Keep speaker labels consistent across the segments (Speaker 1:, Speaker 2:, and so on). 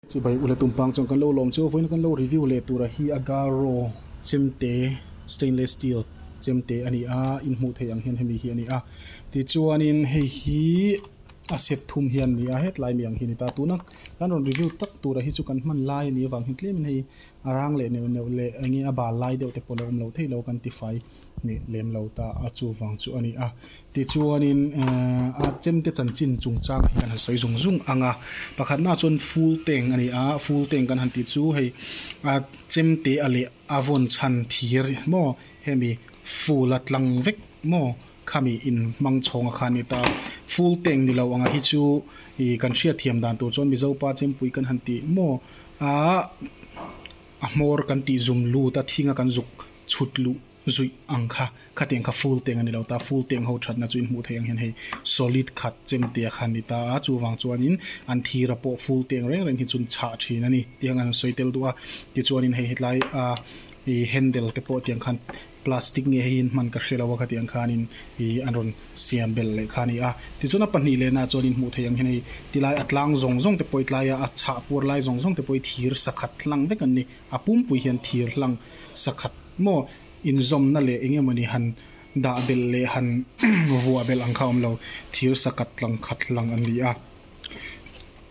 Speaker 1: Chubai ula tum pang chuan kan lo lawm chu vawiin kan lo review leh tura hi Agarro chemte stainless steel chemte a ni a, in hmuh theih ang hian hemi hi a ni a, tichuanin hei hi a set thum hian ni a, hetlai mi ang hi a ni ta, tuna kan rawn review tak tura hi chu kan hman lai a nih avang hian tlem in hei a rang leh neuh neuh leh enge a bal lai deuh te pawh lo awm lo theilo kan tifai hneh lem lo ta a chuvang chu a ni a. Tichuanin art chemte chanchin chungchang hi kan han sawi zung zung ang a, pakhatnaah chuan Fulteng a ni a, Fulteng kan han tih chu hei art chemte a leh a vawn chhan thir maw hemi Ful-a tlang vek maw khami inhmang chhawng a kha a ni ta. Fulteng ni lo ang hi chu ih kan hriat thiam dan tur chuan Mizo pa chempui kan han tih maw a, a hmawr kan tih zum lut a, thinga kan zuk chhut luh. zuih ang kha khatiang kha full tank a ni lo ta, full tank ho thatna chu in hmuh theih ang hian hei solid khat chem te a kha ni ta a, chuvang chuanin an thira pawh full tank reng reng hi chun chhah thin a ni tih ang an rawn sawi tel duh a, tichuanin hei hetlai a i handle te pawh tiang khan plastic nge heihin hman ka hre lo a khatiang khanin i an rawn siam belh leh kha a ni a, tichuan a pahnih leh nahah chuan in hmuh theih ang hian hei tilai a tlang zawng zawng te pawh i tlaia a chhah puar lai zawng zawng te pawh i thir sa khat hlang vek an ni, a pumpui hian thir hlang sa khat maw inzawmna leh eng emaw ni han dah belh leh han vuah belh ang kha awm lo, thir sa khat lang khat lang an ni a.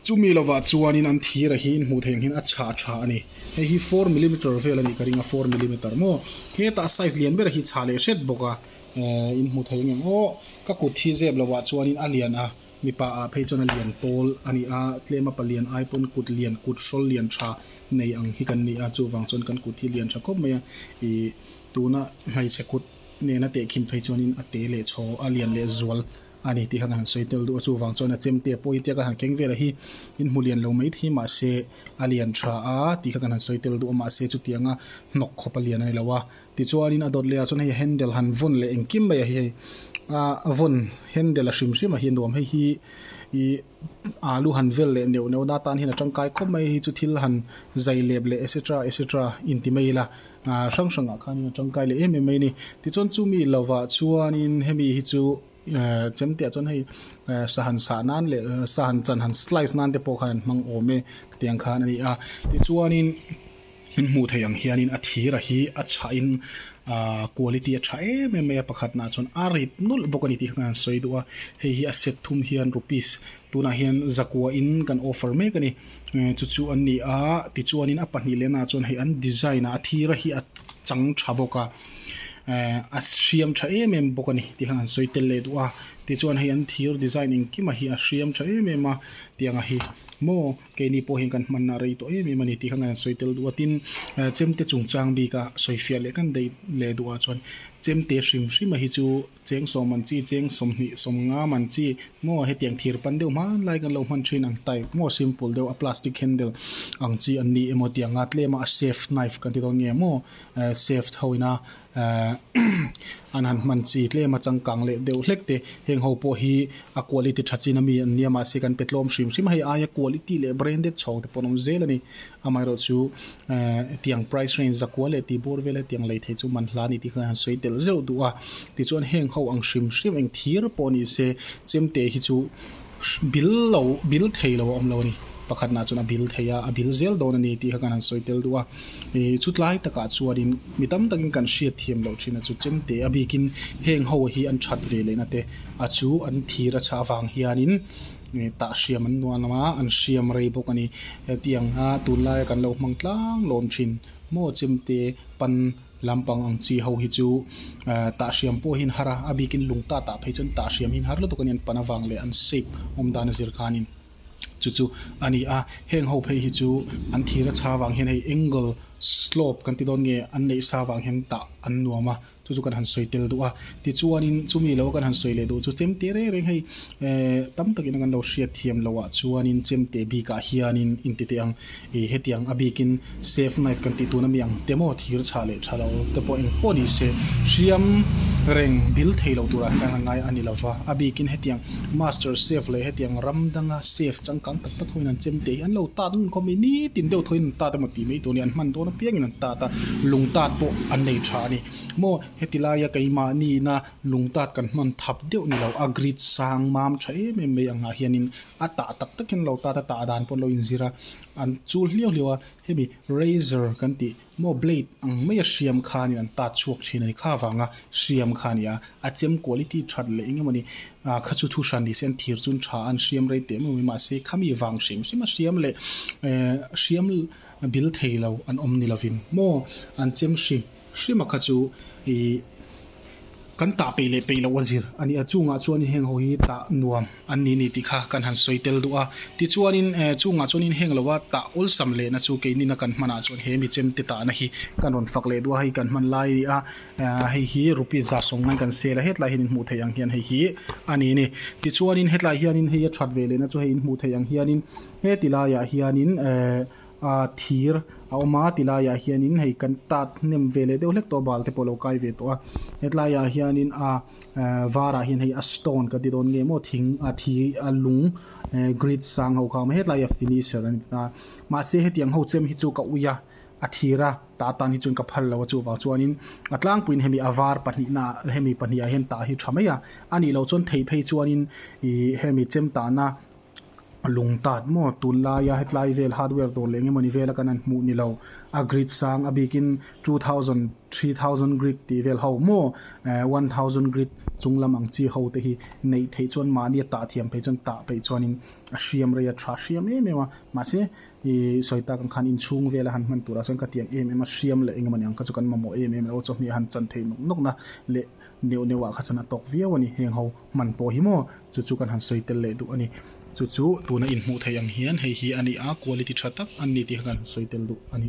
Speaker 1: Chumi lovah chuanin an thir a hi inhmuh theih ang hian a chhah tha a ni. Hei hi four millimeter vel a nih ka ring a, four millimeter maw hetah size lian ber a hi chhah leh hret bawk a, inhmuh theih ang em aw ka kut hi zep lovah chuanin a lian a. Mipa ah phei chuan a lian pawl a ni a, tlema palian ai pawn kut lian, kut hrawl lian tha nei ang hi kan ni a, chuvang chuan kan kut hi lian tha khawp mai a, ih tuna hmeichhe kut nena tehkhim phei chuanin a te leh chhaw a lian leh zual a ni tih khan a han sawi tel duh a, chuvang chuan a chemte pawh hi tiaka han keng velah hi in hmu lian lo mai thei mahse a lian tha a tih kha kan han sawi tel duh a, mahse chutianga hnawk khawpa lian a ni lo a. Tichuanin a dawt leh ah chuan hei handle han vawn leh engkim mai a hi hei a vawn handle a hrim hrim a hi a nuam hei hi i alu han vel leh neuh neuh na tan hian a tangkai khawp mai hi chu thil han zai lep leh etc etc inti mai ila hrang hrang ah khanin a tangkai leh em em mai a ni tichuan chumi lo vah chuanin hemi hi chu eh chem teh ah chuan hei eh sa han sah nan leh sa han chan han slice nan te pawh khan an hmang awm e tiang khan a ni a tichuanin. Hlim hmuh theih ang hianin a thira hi a chhahin quality a tha em em mai a, pakhatnaah chuan a rip nulh bawk a ni tih khan an sawi duh a, hei hi a set thum hian rupees tunah hian zakua in kan offer mek a ni, chu chu an ni a, tichuanin a pahnih leh naah chuan hei an design ah a thira hi a chang tha bawk a, a hriam tha em em bawk a ni tih khan an sawi tel leh duh a, tichuan hei an thir design engkim a hi a hriam tha em em a tiang a hi maw. Keini pawh hian kan hmanna rei tawh em em a ni tih kha ngaih an sawi tel duh a, tin, Chemte chungchang bik a sawi fiah leh kan daih leh duh ah chuan Chemte hrim hrim a hi chu cheng sawm an chi, cheng sawmhnih, sawmngam an chi maw heti ang thir pan deuh hmanlai kan lo hman thin ang, type maw simple deuh a plastic handle ang chi an ni emaw tih a nga tlem a, a chef knife kan ti dawn nge maw, chef ho ina Aah an han hman chi tlem a changkang leh deuh hlek te heng ho pawh hi a quality tha chin a mi an nia mahse kan pe tlawm hrim hrim a hei aia quality leh branded chhawng te pawh an awm zel a ni amaherawh chu eeh hetiang price range zakua leh tihbur vel hetiang lei thei chu man hla a ni tih kha an han sawi tel zeuh duh a tichuan heng ho ang hrim hrim eng thir pawh ni se chemteh hi chu bil lo bil thei lo a awm lo a ni pakhat nah chuan a bil thei a a bil zel dawn a ni tih kha kan han sawi tel duh a ihh chutlai tak ah chuan in mi tam tak in kan hriat thiam loh thin a chu chem te a bik in heng ho hi an that ve leh na te a chu an thira chhah avang hian in ihh tah hriam an nuam lam a an hriam rei bawk a ni hetiang a tun lai a kan lo hmang tlang lawm thin maw chem te pan-- Lam pang ang chi ho hi chu Tahriam pawh hi an har a, a bikin lung ta tah phei chuan Tahriam hi an har lutuk a ni a, an pan avang leh an shape awm dan a zir khanin chu chu a ni a. Heng ho phei hi chu an thir a chha vang hian hei angle, slope kan ti dawn nge an neih sa vang hian tah an nuam a, chu chu kan han sawi tel duh a. Tichuanin chumi lo kan han sawi leh duh chu chem te reng reng hei ehh tam takin a kan lo hriat thiam loh ah chuanin chem teh bikah hianin intiteh ang. I hetiang a bikin safe night kan tih tun a mi ang te maw thir chhah leh tha lo te pawh eng pawh ni se hriam reng dil thei lo tur ah hian a ngai a ni lo va a bikin hetiang master chef leh hetiang ram danga chef changkang tak tak hoin an chem teh hi an lo tat ngun khawp mai nitin deuh thaw in an tat emaw tih mai tur a ni an hman dawn apiang in an tat a lung tat pawh an nei tha a ni maw heti lai a keimah ni ina lung tat kan hman thap deuh ni lo a grid sang mam tha em em mai ang ah hian in a tah tak takin lo tata tah dan pawh lo inzir a an chul hliau hliau a hemi razor kan tih maw blade ang mai a hriam kha nen an tat chhuak thin a ni kha avanga hriam kha a ni a a chem quality that leh eng emaw ni ah kha chu thu hran ni se an thir chun tha an hriam rei teh mai mai mahse khami vang hrem hrem a hriam leh eh hriam bil thei lo an awm ni lovin maw an chem hrim hrima kha chu ih. Kan tah peih leh peih loh a zir a ni a, chungah chuanin heng ho hi tah nuam an ni ni tih kha kan han sawi tel duh a. Tichuanin chungah chuanin heng loa tah awlsam lehna chu keinina kan hmanah chuan he mi chemte tahna hi kan rawn fak leh duh a, hei kan hman lai a ni a, hei hi rupees zar sawng ngain kan sel a, hetlai hian in hmuh theih ang hian hei hi a ni ni. Tichuanin hetlai hianin hei a that ve lehna chu hei in hmuh theih ang hianin heti laiah hianin ehh a thir a awm a ti laiah hianin hei kan tat hnem ve leh deuh hlek tawh a balte pawh a lo kai ve tawh a hetlaiah hianin a ehh varah hian hei a stone kan ti dawn nge maw thing a thi a lung ehh grid sang ho kha a awm a hetlaiah finisher a ni ta mahse hetiang ho chem hi chu ka ui a a thir a tah atan hi chuan ka phal lo a chuvang chuanin a tlangpuiin hemi a var pahnihna ah hemi pahnih ah hian tah hi tha mai a a nih loh chuan thei phei chuanin ihh hemi chem tahna-- lung tât maw tûn laia hetlai vêl hardware dâwr leh eng emaw ni vêla kan an hmuh ni lo. A grid sâng a bikin two thousand, three thousand grid tih vêl ho maw eh one thousand grid chung lam ang chi ho te hi neih theih chuan mahni a tah thiam phei chuan tah peih chuanin a hriam rei a, ṭha hriam em em a. Mahse ih sawi tak ang khan inchhûng vêla han hman tûrah chuan ka tiang em em a, hriam leh eng emaw ni ang kha chu kan mamawh em em lo a, chawhmeh a han chan thei nawk nawk na leh neuh neuhah kha chuan a tâwk viau a ni. Hêng ho hman pawh hi maw chu chu kan han sawi tel leh duh a ni. Chu chu tuna inhmuh theih ang hian hei hi a ni a, quality tha tak an ni tih kha kan sawi tel duh a ni.